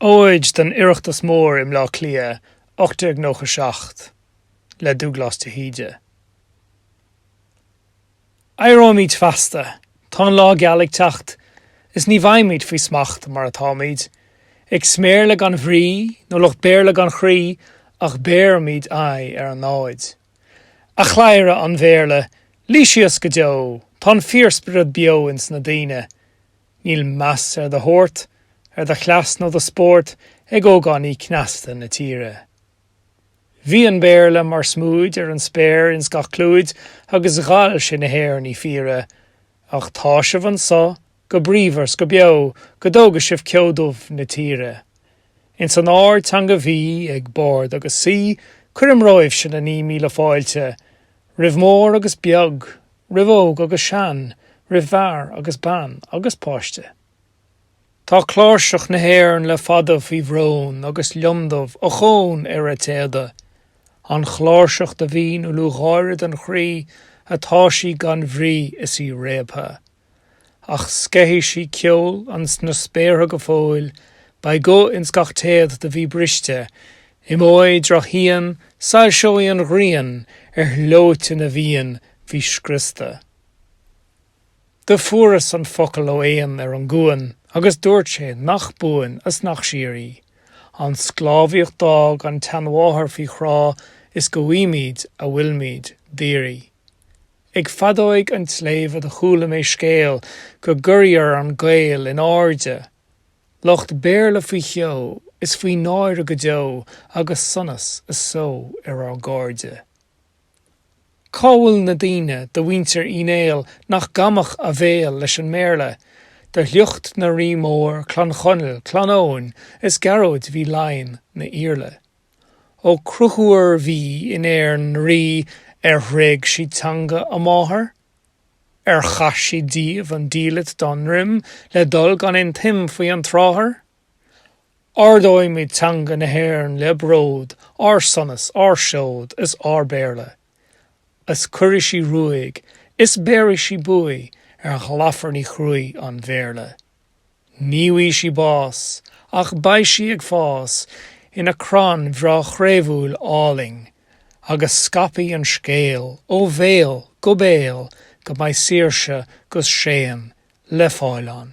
óid don Oireachtas Mór i mBleá Cliath 1897 le Dúglás de hÍde. Éireoimid feasta, tá an lá geal ag teacht, is ní bheimid faoi smacht mar atáimid, ag sméirle gan bhrí nó lucht Béarla gan chroí ach béarfaimid aghaidh ar an námhaid. A chladhaire an Bhéarla, luigh síos go deo, tá an fíorspiorad beo ins na daoine, Níl meas ar do shórt, ar do chleas nó do spórt ag ógánaigh cneasta na tíre. Bhí an Béarla mar smúid ar an spéir ins gach clúid agus dhall sé na hÉireannaigh fíre, ach tá sibh anso go bríomhar 's go beo go dtóga sibh ceo dubh na tíre. Ins an ardteanga bhí ag bard agus saoi cuirim romhaibhse na naoi míle fáilte, roimh mór agus beag, roimh óg agus sean, roimh fhear agus bean, agus páiste. Tá cláirseach na hÉireann le fada faoi bhrón agus lionndubh ochón ar a téada, an chláirseach do bhí 'na lúcháire don chroí atá sí gan bhrí is í réabtha. ach sceithfidh sí ceol ins na spéartha go fóill, beidh guth ins gach téad do bhí briste, imeoidh drochshíon, soilseoidh an ghrian ar shlóite na bhFiann bhí scriosta. Do fuaireas an focal ó éan ar an gcuan agus dúirt sé nach buan 's nach síoraí an sclábhaíocht d'fhág an tseanmháthair faoi chrá is go bhfaighimid a bhfuilmid d'iarraidh. Ag feadóig an tsléibhe do chuala mé scéal go gcuirfear an Gael in airde, lucht Béarla faoi cheo is faoi náire go deo agus sonas is só ar ár gcairde. Cá bhfuil na daoine de mhuintir Uí Néill nach gcamfadh a bhéal leis an mBéarla, de shliocht na rí mór, Clann Chonaill, Clann Eoghain is Gearóid bhí i Laighean 'na Iarla. Ó Conchúir bhí in Éirinn 'na rí ar thréig siad teanga a máthar, ar chaith siad díobh an diallait dá ndroim le dul gan aon tsuim faoi an tsrathair. Ardóimid teanga na hÉireann le bród, ár sonas, ár seod is ár bpéarla. Is cuirfidh sí ruaig, is béarfaidh sí buaidh ar ghlafarnaí chruaidh an Bhéarla. Ní bhfaighidh sí bás, ach beidh sí ag fás ina crann bhreá chraobhúil álainn, agus scaipfidh an scéal ó bhéal go béal go mbeidh saoirse 'gus séan le fáil ann.